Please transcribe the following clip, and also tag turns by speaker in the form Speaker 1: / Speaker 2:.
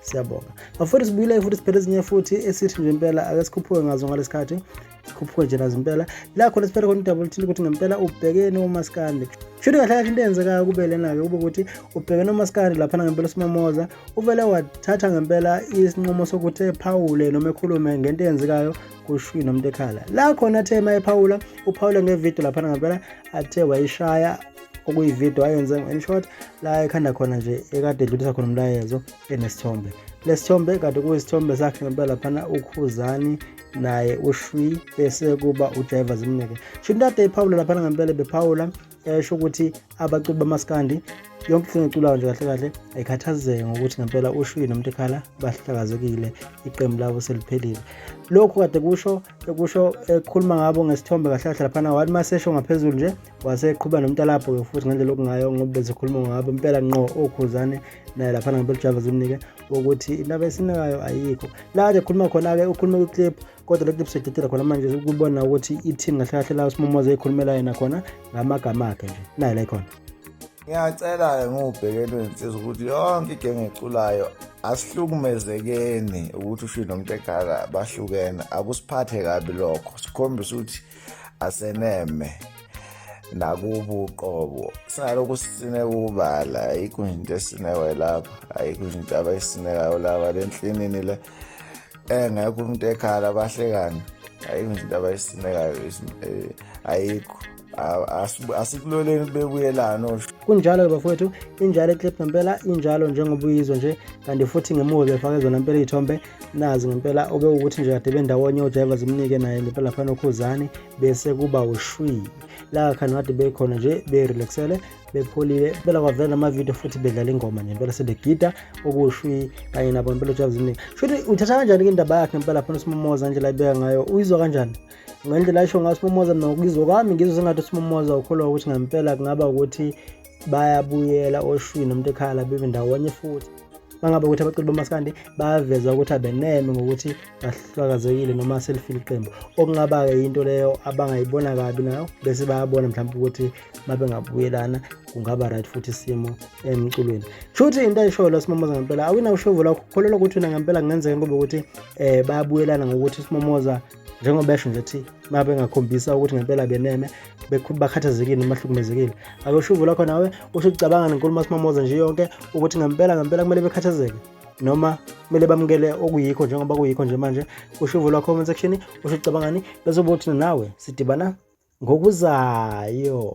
Speaker 1: siyabonga bafowethu sibuyile futhi siphethe ezinye futhi esithi nje impela ake sikhuphuke ngazo ngalesikhathi sikhuphuke nje nazo impela la khona siphethe khona udabula thile ukuthi ngempela ubhekene umaskandi shuthi kahle kahle into eyenzekayo kube lena-ke kube ukuthi ubhekene umaskandi laphana ngempela usimamoza uvele wathatha ngempela isinqumo sokuthi ephawule noma ekhulume ngento eyenzekayo kushwi nomuntu ekhala la khona athe uma ephawula uphawule ngevidiyo laphana ngempela athe wayishaya okuyivideo ayenze in short la ekhanda khona nje ekade edlulisa khona umlayezo enesithombe lesithombe kade kuyisithombe sakhe ngempela laphana ukhuzani naye ushwi bese kuba ujiver zimnike shintade iphawula laphana ngempela bephawula esho ukuthi abaculi bamaskandi yonke into engiculayo nje kahle kahle ayikhathazeke ngokuthi ngempela ushwini nomuntu ekhala bahlakazekile iqembu labo seliphelile lokhu kade kusho ekusho ekhuluma ngabo ngesithombe kahle kahle laphana wathi masesho ngaphezulu nje waseqhuba nomntalapho-ke futhi ngendlela okungayo ngoba bezikhuluma ngabo impela nqo okhuzane naye laphana ngabekujava zimnike ukuthi indaba esinekayo ayikho la kade khuluma khona-ke ukhulume kwi-clip kodwa le clip seyidedela khona manje ukubona ukuthi i-team kahle kahle la usimomoza eyikhulumela yena khona ngamagama akhe nje naye la ikhona ngiyacela-ke
Speaker 2: ngiwubhekele insizwa ukuthi yonke igenge eculayo asihlukumezekeni ukuthi ushilo nomntekhala bahlukene akusiphathe kabi lokho sikhombisa ukuthi aseneme nakubo uqobo singalokhu sisine kubala ayikho into esinewe lapha ayikho into abayisinekayo laba le nhlinini le engekho umuntu ekhala bahlekana ayikho into abayisinekayo eh, ayikho asikuloleni bebuyelana osho kunjalo-ke bafowethu
Speaker 1: injalo eclip ngempela injalo njengoba uyizwa nje kanti futhi ngemuva befake zona mpela iy'thombe nazi ngempela oke ukuthi nje kade bendawonye odrayiva zimnike naye ngempela lapha nokhuzani bese kuba ushwi la khani kade bekhona nje berelaxele bepholile bela kwavela namavidiyo futhi bedlala ingoma nje impela sebegida okushwi kanye nabo impela odrayiva zimnike shuthi uthatha kanjani-ke indaba yakhe impela lapha nosimomoza nje la ibeka ngayo uyizwa kanjani ngendlela ayisho ngayo simomoza mina ngokuyizwa kwami ngizwe sengathi usimomoza ukholwa ukuthi ngempela kungaba ukuthi bayabuyela oshwini nomuntu ekhaya la bebe ndawonye futhi mangabe ukuthi abaculi bamaskandi baveza ukuthi abeneme ngokuthi bahlakazekile noma selifile iqembu okungaba-ke yinto leyo abangayibona kabi nayo bese bayabona mhlawumbe ukuthi mabengabuyelana kungaba right futhi isimo emculweni shuthi into ayishoyo la simomoza ngempela awina ushovu lakho kholelwa ukuthi wena ngempela kungenzeka kube ukuthi um bayabuyelana ngokuthi simomoza njengoba esho nje ukuthi uma bengakhombisa ukuthi ngempela beneme bakhathazekile noma bahlukumezekile akusho uvula khona nawe usho ucabanga nenkulumo simamoza nje yonke ukuthi ngempela ngempela kumele bekhathazeke noma kumele bamukele okuyikho njengoba kuyikho nje manje usho uvula comment section usho ucabangani bese ubothina nawe sidibana ngokuzayo